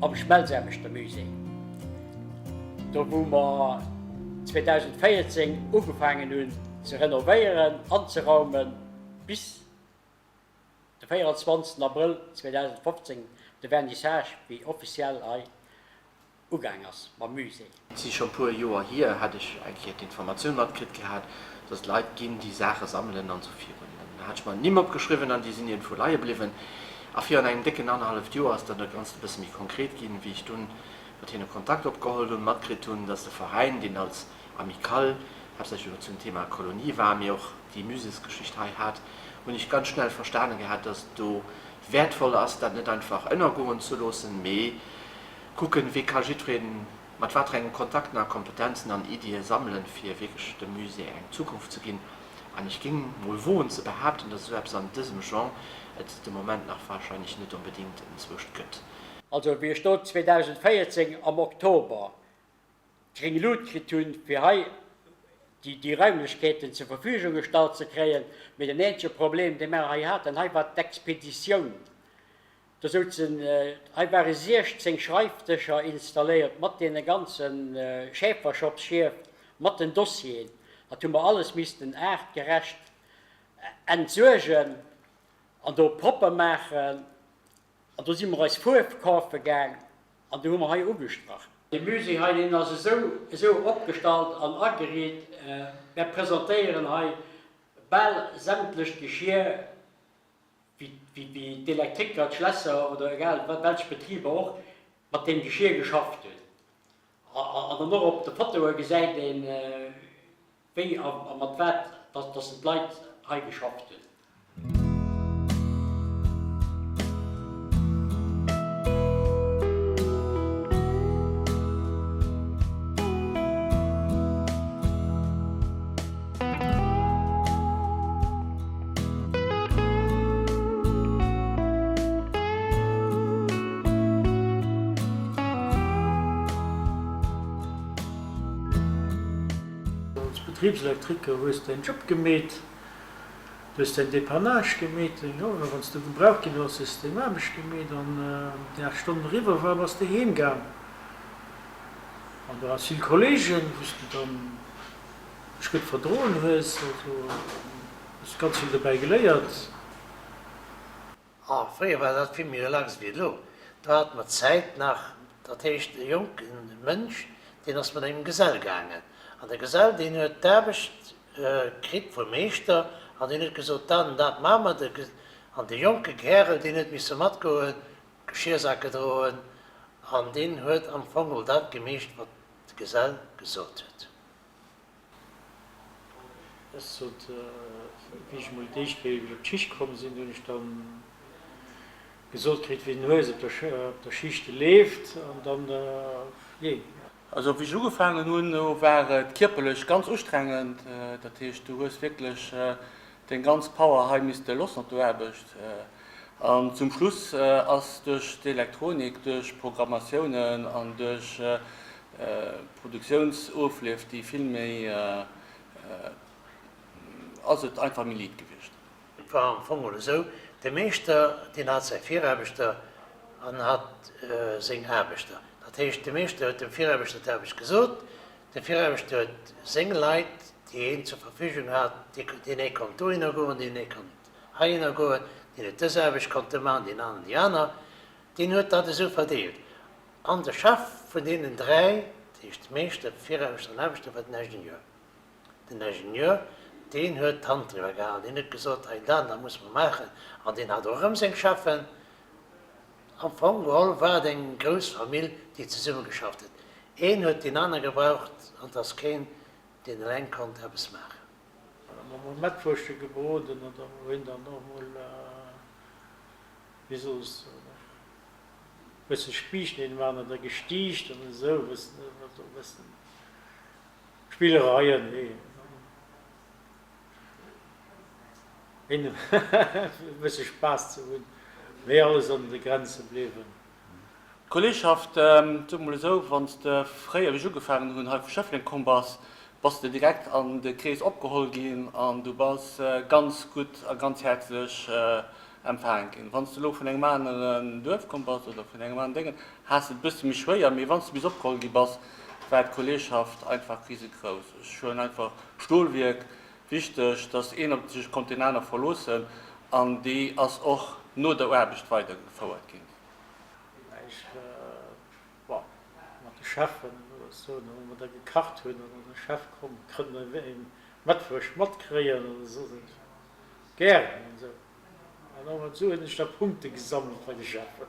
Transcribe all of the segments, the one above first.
Am Schmelzaarbechter-Musée, do wou mer 2014 ugefaangen hunn ze renovéieren, anzeraumen, bis de 24 Abrëll 2015 de Vernissage, wéi offiziell hei ugaang ass mam Musée. Et si scho puer Joer hier, hat ech eng Kéier d'Informatioun matkritt gehat, dass et Leit ginn, déi Saache sammelen an esou virun. An da hat ech mer d'Nimm opgeschriwwen an déi sinn iergendwou leie bliwwen. A virun engem décken annerhalleft Joer ass dann dat Ganzt e bësse méi konkret ginn, wéi ech dunn mat hinne Kontakt opgeholl hunn, matkritt hunn, dass de Veräin, deen als Amicale haaptsächlech elo zum Thema Kolonie war, mee och déi Muséesgeschicht hei hat, hunn ech ganz schnell verstane gehat, dass et do wäertvoll ass, dat net einfach ënnergoen ze loossen, mee. Kucken, wéi ka jiddweree mat wat fir enge Kontakten a Kompetenzen an Iddie sammelen, fir wierklech dem Musée eng Zukunft ze ginn. An ech géing mol woen ze behaapten, dass esou eppes an dësem Genre et de Moment nach wahrscheinlech net onbedéngt entzwuecht gëtt. Also wéi ech do 2014 am Oktober d'gréng Lut kritt hu fir hei déi Raimlechkeeten zur Verfügung gestallt ze kréien, mee den eenzege Problem dee mer hei haten hei war d'Expeditioun. Do soutzen hei ware 16 Schreifdëscher installéiert mat deene ganze Schäferschopsschief, mat den Dossieren. Dat hu mer alles missten aartgerecht entsuergen an do propper maachen. An do si mer eis Fuerf kafe gaang an déi hu mer hei ugestrach. De Musée hei, deen ass esou esou opgestallt an ageriit. Mär presentéieren hei bal sämtlech Geschir. wéi d'Elektriker, d'Schlässer oder egal welche Betriber och mat deem Geschir geschafft hunn. An dann och op de Fotoe gesäit ee wéi a mat wat datt se d'Leit hei geschafft hunn. Als Betriebselektriker hues de däin Job gemeet, du hues däin Depannage gemeet, oder wann s du gebraucht ginn hues, hues de deng Aarbecht gemeet an wann déi 8 Stonnen eriwwer war, bass de heem gaang an du has vill Kollegen, wou s du dann. mech gutt verdroen hues, also hues ganz vill dobäi geléiert. Ah, fréier war dat vill méi relax ewéi elo, do hat mer d'Zäit nach, dat heescht e jonke Mënsch, deen ass mat engem Gesell gaangen, an de Gesell, deen huet d'Aarbecht kritt vum Meeschter, an deen huet gesot, dat an dat maache mer, an de jonke Kärel, deen huet misse matgoen, Geschiersake droen, an deen huet am Fong dat gemeecht, wat de Gesell gesot huet. Ech sot, wéi ech mol d'éischt Kéier iwwer d'Schicht komm sinn, hunn ech da gesot kritt, wéi den Hues op der Schicht leeft an dann, jee. Also wéi ech ugefaangen hunn, do war et kierperlech ganz ustrengend. Dat heescht, du hues wierklech deng ganz Power hei misste lossen op der Aarbecht. An zum Schluss ass duerch d'Elektronik, duerch Programmatiounen an duerch Produktiounsofleef, déi vill méi ass et einfach méi liit gewiescht. Et war am Fong mol esou, de Meeschter deen hat säi Viraarbechter an hat seng Aarbechter. Dat heescht, de Meeschter huet dem Viraarbechter d'Aarbecht gesot, de Viraarbechter huet seng Leit, déi hien zur Verfügung hat, déi hie konnt dohinner goen, déi hie konnt. heihinner goen, deen huet dës Aarbecht konnte maachen, deen aner déi aner, deen huet dat esou verdeelt. An de Chef vun deenen dräi, dat heescht de Meeschter, de Viraarbechter an den Aarbechter, war den Ingenieur. Den Ingenieur, deen huet d'Hand driwwer gehalen, deen huet gesot, hei dat an dat musse mer maachen. An deen hat och erëm seng Cheffen. Am Fong geholl war et eng grouss Famill, déi zesummegeschafft huet. Een huet deen anere gebraucht an et ass keen, deen eleng konnt eppes maachen. Dann hu mer Mettwurschte gebroden an da hu hien dann och mol, wéi soss, e bësse Spiichten een maan oder gestiicht an esou, wëss de, also e bësse Spillereien, wéi een, fir e bësse Spaass ze hunn, mee alles an de Grenze bliwwen. D'Kolleegschaft, soe mol esou, wann s de fréier, wéi ech ugefaangen hunn, hei vu Schëffleng komm bass, bass de direkt an de Krees opgeholl ginn an du bass ganz gutt a ganz häerzlech empfaange ginn. Wann s de elo vun engem aneren Duerf komm bass oder vun engem aneren Déngen, haass et e bësse méi schwéier, mee wann s de bis opgeholl gi bass, war d'Kolleegschaft einfach risegrouss. Ech hunn einfach Stolwierk Wichteg, dass een op sech konnt deen aner verloossen an déi ass och no der Aarbecht weidergefouert ginn. Wéi ech mat de Cheffen oder sou hu mer da gekacht hunn an de Chef komm, kënnt e Mëttwoch matkréien oder sou, sot ech gären an sou. An och mat sou hunn ech da Punkte gesammelt bei de Cheffen.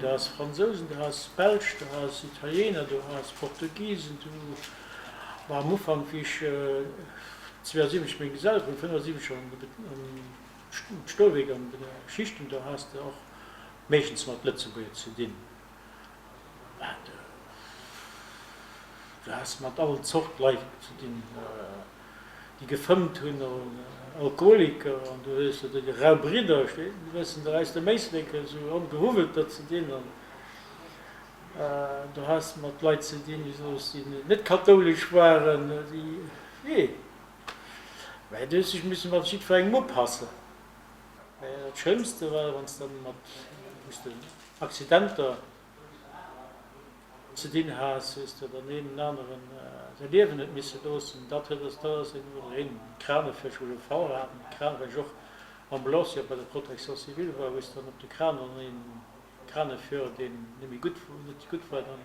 Dass Fransousen do ass, Belsch do ass, Italiener do ass, Portugisen do, ma am Ufank wéi ech 72 meng Geselle krut, 75 am Stolwierk an de Schichten, do has de och meeschtens mat Lëtzebuerger ze dinn. Wat du has mat all Zort Leit ze dinn, déi gefëmmt hunn, Alkoholiker, an du hues de rau Bridder, déi wëssen der aus dem Éislek esou ongehuwwelt der ze dinn, an du has mat Leit ze dinn, déi soss déi net kathoulesch waren, déi, wi? Mä du hues dech missen mat jiddferengem upassen. Mä dat Schlëmmste war, wann s de mat, wou s de Accidenter ze dinn has, wéi s de den een den aneren säi Liewen huet misse loossen, dat huet ass dat ass een oder een Crane vläicht scho e Fall hat, mat Crane well ech och Ambulancier op bei der Protection civile war, wou s dann op de Crane an een Crane fuer, deen net méi gutt net gutt war, dann.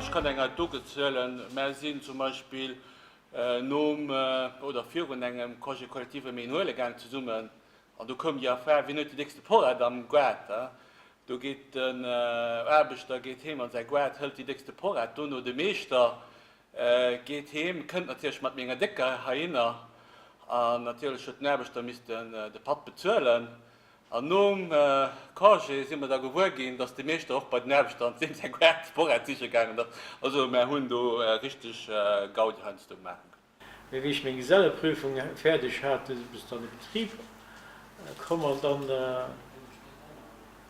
Ech kann eng Anekdot erzielen, Mär sinn zum Beispill nom oder virun engem Congé collectif ëm een huele gaang zesummen. An do koum déi Affaire, Wien huet déi déckste Porrett am Goart? a do geet den Aarbechter geet heem a säi Goart, hëlt déi déckste Porrett, dono de Meeschter, Geet heem, kënnt natierlech mat menger décker herinner an natierlech huet den Aarbechter missten de Patt bezuelen. An nom Congé si mer da gewuer ginn, dass de Meeschter och bei den Aarbechter an deem säi Gaart Sporrad siche gaangen ass. Also mer hunn do richteg Gaudi heiansdo maache ginn. Mee wéi ech meng Geselleprüfung fäerdeg hat, sinn ech dann e Betrib komm an dann.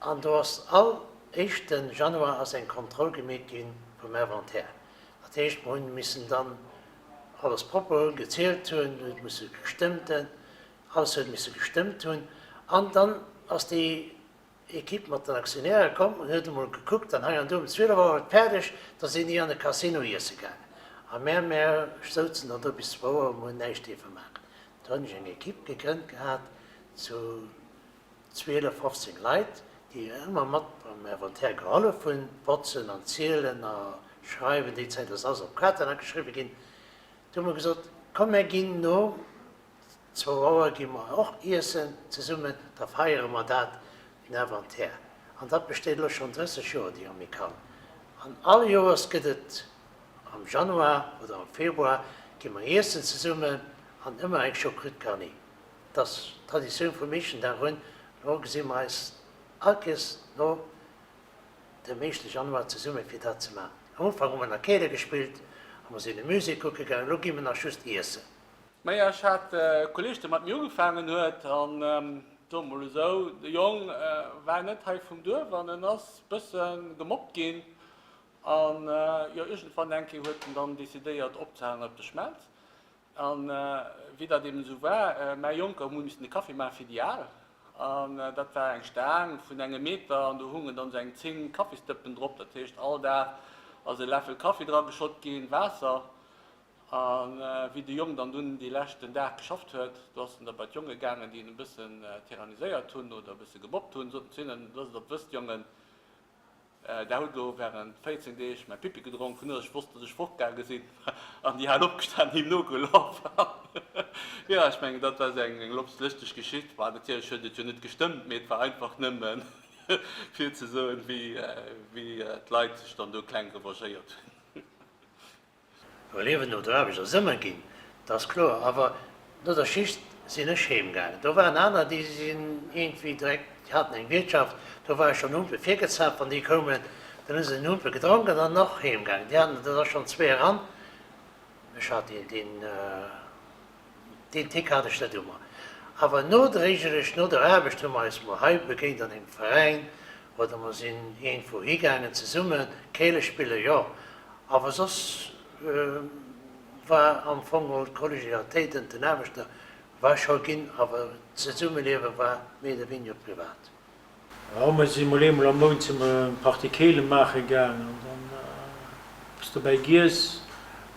An do ass all éischten Januar ass eng Kontroll gemeet gi vum Inventaire. Dat heescht, mer hunn missen dann alles propper hunn, gezielt hunn, huet musse gestëmmt hunn, alles huet misse gestëmmt hunn. An dann ass déi Equipe mat den Aktionäre komm an huet emol gekuckt an hei an do. Um 12 Auer war et fäerdeg, da sinn déi an de Casino iesse gaangen a mär, mär souzen dann do bis zwou Auer, mer hunn näischt dierfe maachen. Do hunn ech eng Equipe gegrënnt gehat zu 12, 15 Leit, déi jo ëmmer mat beim Inventaire gehollef hunn, botzen an zielen a schreiwen, déi Zäit ass alles op Platen ageschriwwe ginn, do hu mer gesot, komm mär ginn no zwou Auer gi mer och iessen zesummen, da feiere mer dat, den Inventaire. An dat besteet elo schonn 30 Joer, déi Amicale. An all Joers gëtt et am Januar oder am Februar gi mer iessen zesummen an ëmmer eng Choucroute garnie. dass d'Traditioun vum Meeschtendag un, elo gesi mer eis all Kees no dem éischte Januar zesumme fir dat ze maachen. Am Ufank hu mer nach Keele gespillt a mer sinn e Musée kucke gaangen, elo gi mer nach just iessen. Mä ech hat e Kolleeg, dee mat mir ugefaangen huet, an soe mol esou, de Jong war net hei vum Duerf an en ass e bësse gemobbt ginn an jo, iergendwann enké huet en dann decidéiert opzehalen op de Schmelz. A wéi dat eben esou war, mäi Jonker hu missen de Kaffi maache fir déi Al. An dat war eng Staang vun engem Meter an do hungen dann esou eng 10 Kaffisdëppen drop. Dat heescht, all Dag ass e Läffel Kaffi dra geschott ginn, Waasser. A wéi de Jong dann dunn dee leschten Dag geschafft huet, do ass en da bei d'Jonge gaangen, déi en e bëssen tyranniséiert hunn oder e bësse geboppt hunn, sot en zu hinnen, Looss et op d'Wëst, Jongen! Där hutt elo während 14 Deeg mäi Pippi gedronk, vun ech wosst, dass ech fortgaange sinn, an déi hat opgestan an him nogelaf. Jo, ech mengen, dat war eng losteg Geschicht. Bon, natierlech huet et jo net gestëmmt, mee et war einfach nëmmen, fir ze soen, wéi d'Leit sech dann do kleng revagéiert hunn. Well Liewen no der Aarbecht ass ëmmer ginn, dat ass kloer. Awer no der Schicht sinn ech heem gaangen. Do waren aner, déi sinn iergendwéi direkt, déi haten eng Wiertschaft, do war ech schonn Humpe virgezaapt, wann déi koumen. Dann hu se den Humpe gedronk an dann och heem gaangen. Déi aner, dat ass schonn zwee eran. Ech hat deen. Deen Tick hat ech net u mer. Awer nodréiglech no der Aarbecht hu mer eis mol hei begéint an engem Veräin oder mer sinn iergendwou higaangen zesumme Keele spillen, jo. Awer soss war am Fong mol d'Kollegialitéit ënner den Aarbechter war scho ginn, awer d'Zesummeliewe war méi oder wéiniger privat. Jo mir si mol eemol am Mount si mer eng Partie Keelen maache gaang an dann eppes dobäi giess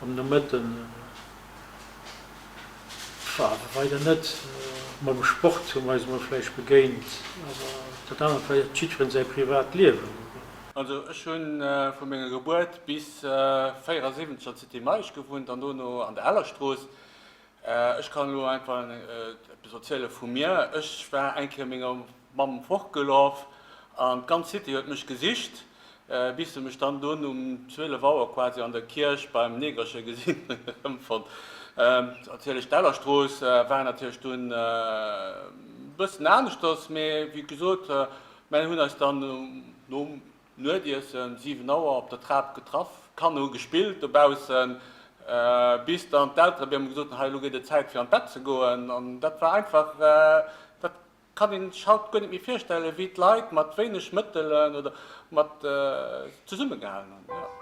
an de Mëtten war da weider net. Mam Sport hu mer eis mol vläicht begéint awer dat anert war jo jiddferen säi privat Liewen. Also ech hu vu menger Gebuert bis 74 an d'Cité Meisch gewunnt an dono an der Hellerstrooss. Ech kann elo einfach eppes erziele vu mir. Ech war eng Kéier menger Mamm fortgelaf an d'ganz City huet mech gesicht, bis se mech dann dunn um 12 Auer quasi an der Kierch beim Negerche gesinn hunn. Erëmfonnt erziel ech. D'Ellerstrooss war natierlech dunn e bëssen aneschters, mee wéi gesot, mär hunn eis dann nom Nuetiessen 7 Auer op der Trap getraff, Kanner hu gespillt dobaussen, bis dann d'Eltere mir hu gesot hunn, hei elo gëtt et Zäit fir an d'Bett ze goen. An dat war einfach, dat kann een sech haut guer net méi virstellen, wéi d'Leit mat wéineg Mëttelen oder mat zesumme gehalen hunn.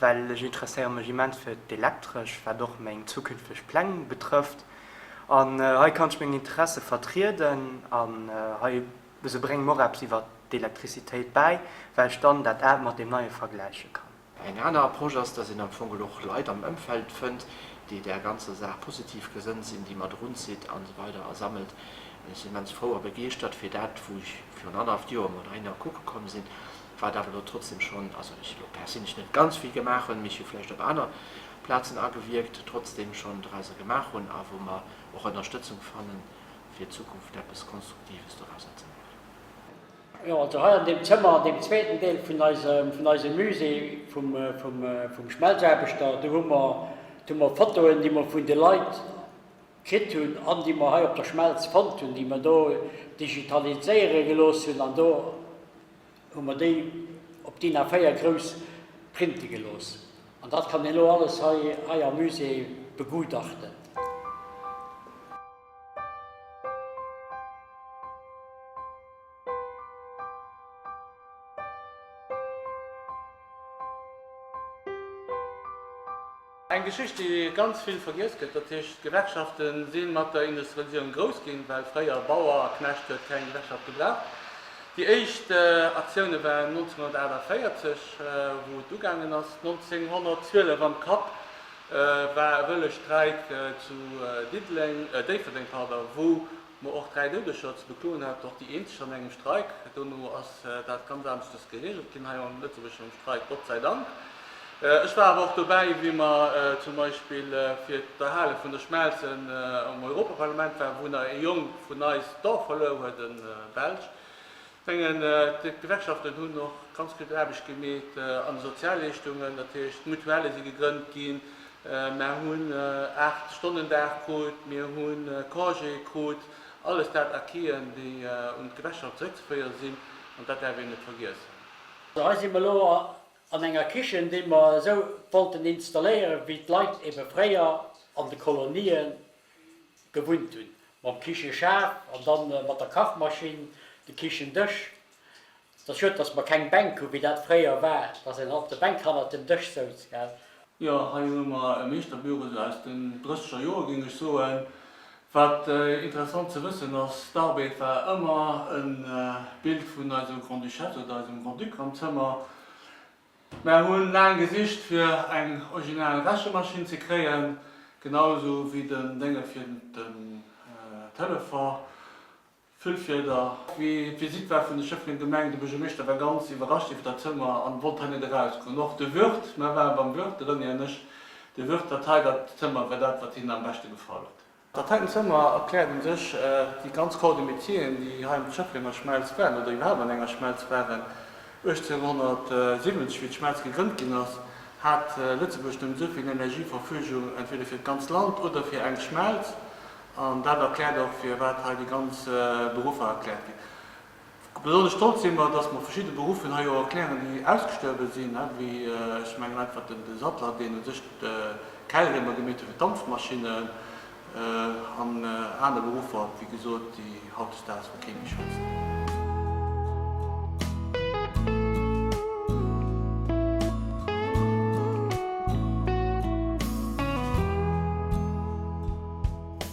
well ech interesséiere mech immens fir d'Elektresch, wat och meng zukünfteg Pläng betrëfft. An hei kann ech meng Interesse vertrieden an hei esou brénge mer och eppes iwwer d'Elektrizitéit bäi, well ech dann dat Aalt mat deem Neie vergläiche kann. Eng aner Approche ass, dass een am Fong geholl och Leit am Ëmfeld fënnt, déi där ganzer Saach positiv gesënnt sinn, déi mat erunzitt a sou weider a sammelt. Ech sinn immens frou a begeeschtert fir dat, wou ech virun annerhaft Joer mat Einer kucke komm sinn, wat awer elo trotzdem schonn, also ech elo perséinlech net ganz vill gemaach hunn, mee ech hu vläicht op aner Plazen agewierkt, trotzdem schonn dorauser gemaach hunn a wou mer och Ënnerstëtzung fanne fir d'Zukunft eppes Konstruktives dorauser ze maachen. Jo, also hei an deem Zëmmer, an deem zweeten Deel vun eisem Musée vum Schmelzaarbechter, do hu mer Fotoen, déi mer vun de Leit kritt hunn an déi mer hei op der Schmelz fonnt hunn, déi mer do digitaliséiere gelooss hunn an do hu mer déi op DIN A4 grouss printe gelooss an dat kann een elo alles hei am Musée begutachten. Eng Geschicht déi ganz vill vergiess gëtt, dat heescht, d'Gewerkschafte si mat der Industrialiséierung grouss ginn, well fréier Bauer a Knecht huet keng Gewerkschaft gebraucht. Déi éischt Aktioune waren 1948, wou et ugaangen ass. 1912 am Kapp war e wëlle Streik zu Déifferdeng, wou Ma och dräi Doudeger ze bekloen hat och déi eenzeg an engem Streik. Dono ass dat ganz aneschters geregelt ginn hei am lëtzebuergeschen Streik, Gott sei Dank. Ech war awer och dobäi, wéi mer zum Beispill fir d'Erhale vun der Schmelze am Europaparlament waren, wou nach ee Jong vun eis d'Dorf verluer huet, e Belsch. Mengen d'Gewerkschaften hunn och ganz gutt Aarbecht gemeet an de Sozialleeschtungen. Dat heescht, d'Mutuelle si gegrënnt ginn, mer hunn 8 Stonnen Dag krut, mir hu Congé krut, alles dat Acquisen, déi un d'Gewerkschaft zeréckzeféiere sinn, an dat däerf een net vergiessen. Hei si mer elo an enger Kichen, déi mer esou wollten installéieren, wéi d'Leit ebe fréier an de Kolonien. gewunnt hunn, mam Kicheschaaf an dann mat der Kachmaschinn, de Kichendësch. Ass schued dass mer keng Bänk hu wéi dat fréier war, dass een op de Bänk hannert dem Dësch souz, gell. Jo, hei hu mer e Meeschterbüro esou aus den drësseger Joer, géing ech soen. Wat interessant ze wëssen ass, d'Arbeed war ëmmer e Bild vun eiser Grand-Duchesse oder eisem Grand-Duc am Zëmmer. Mär hunn laang gesicht fir eng original Rechemaschinn ze kréien, genau sou wéi den Dénger fir den Telefon, Füllfieder. Wéi d'Visitt war vun de Schëfflenger Gemeng, de Buergermeeschter war ganz iwwerrascht iwwer dat Zëmmer an wollt hei net eraus goen. Och de Wirt, mär waren beim Wirt, de René an ech, de Wirt hat hei dat Zëmmer war dat wat hinnen am beschte gefall huet. Dat heiten Zëmmer erkläert u sech déi ganz Corps de métieren, déi hei an der Schëfflenger Schmelz waren oder iwwerhaapt an enger Schmelz waren. 1870, wéi d'Schmelz gegrënnt ginn ass, hat Lëtzebuerg nëmmen esou vill Energie Verfügung entweder fir d'ganz Land oder fir eng Schmelz. An dat erkläert och, firwat hei déi ganz Beruffer erkläert ginn. Besonnesch stolz si mer, dass mer verschidde Beruffen hei och erklären, déi ausgestuerwe sinn, wéi, ech mengen einfach den Sattler, deen u sech d'Keilriemer gemeet huet fir d'Dampfmaschinnen, an aner Beruffer, wéi gesot, déi hautdesdaags vu kee méi schwätzt.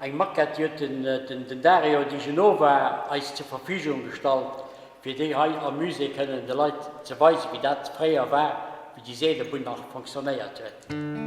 Eng Maquette huet den den Dario Di Genova eis zur Verfügung gestallt, fir déi hei am Musée kënnen de Leit ze weisen, wéi dat fréier war, wéi déi Seelebunn nach fonctionnéiert huet.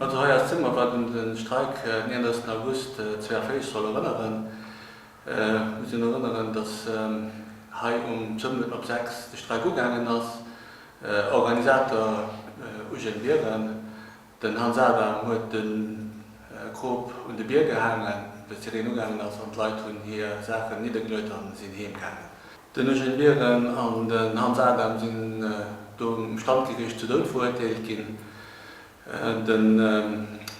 Mat der Roya Zimmer war den de Streik en 31 August 42 soll erënneren. Ech muss een erënneren, datt hei um Zëmmel op 6 de Streik ugaangen ass, Organisator Eugène Biren. Den Hans Adam huet de Krop un de Bier gehaangen, wéi d'Sireen ugaangen ass, an d'Leit hunn hir Saachen niddergeluet an sinn heem gaangen. Den Eugène Biren an den Hans Adam sinn do um Standgeriicht zu Doud verurteelt ginn. De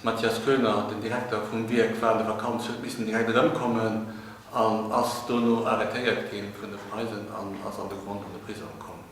Mathias Koener, den Direkter vum Wierk, war an der Vakanz, huet missen direkt erëmkommen an ass dono arretéiert gi vun de Preisen an ass an de Grond an de Prisong komm.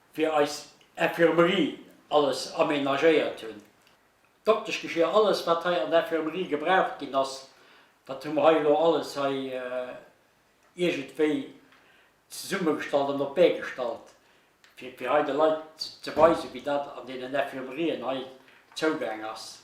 fir eis Infirmerie alles amenagéiert hunn, Dokteschgeschier, alles wat hei an der Infirmerie gebraucht ginn ass, dat hu mer hei elo alles hei iergendwéi zesummegestallt an op d'Bee gestallt, fir fir hei de Leit ze weisen, wéi dat an deenen Infirmerien hei zougaang ass.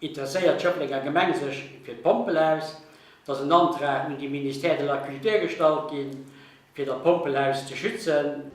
interesséiert d'Schëfflenger Gemeng sech fir d'Pompel aus, dass en Antrag un de Ministère de la Culture gestallt gi fir dat Pompelhaus ze schützen.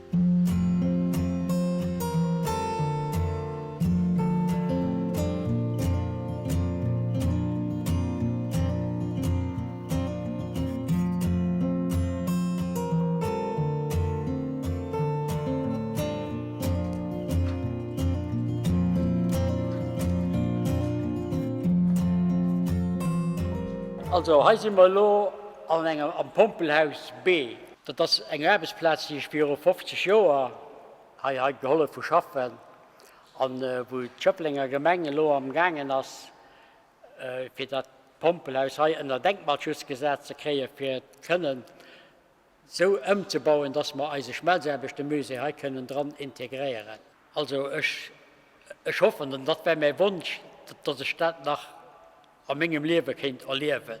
Also hei si mer elo an engem am Pompelhaus B. Dat ass eng Aarbechtsplaz, déi ech viru 50 Joer hei hei gehollef hu schaffen, an wou d'Schëfflenger Gemeng elo am gaangen ass fir dat Pompelhaus hei ënner Denkmalschutz gesat ze kréien, fir et kënnen esou ëmzebauen, dass mer eise Schmelzaarbechte-Musée hei kënnen dran integréieren. Also ech, ech hoffen, an dat wär mäi Wonsch, dass ech dat nach a mengem Liewe kéint erliewen.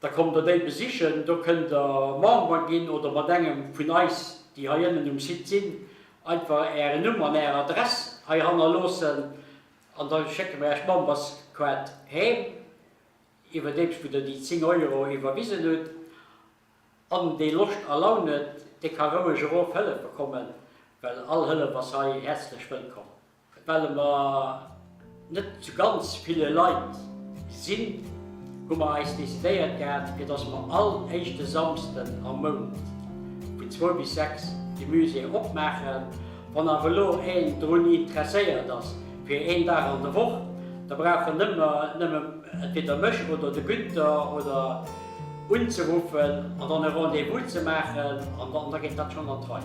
Da kommt der déi besichen, do kënnt der Member ginn oder mat engem vun eis, déi hei ënnen um Site sinn, einfach Ären Numm an Är Adress hei hannerloossen an da schécke mer Äerch d'Memberskaart heem, iwwerdeems wou Der déi 10 Euro iwwerwisen hutt. An dee Loscht a Laun huet, dee ka roueg erof Hëllef bekommen, well all Hëllef ass hei häerzlech wëllkomm. Well mer net zu ganz ville Leit sinn, hu mer eis decidéiert gehat, fir dass mer all éischte Samsden am Mount vun zwou bis sechs de Musée opmaachen. Wann awer elo een drun interesséiert ass fir een Dag an der Woch, da brauch en nëmme entweder mech oder de Günther oder unzeruffen an dann e Rendez-vous ze maachen an da geet dat schonn an d'Rei.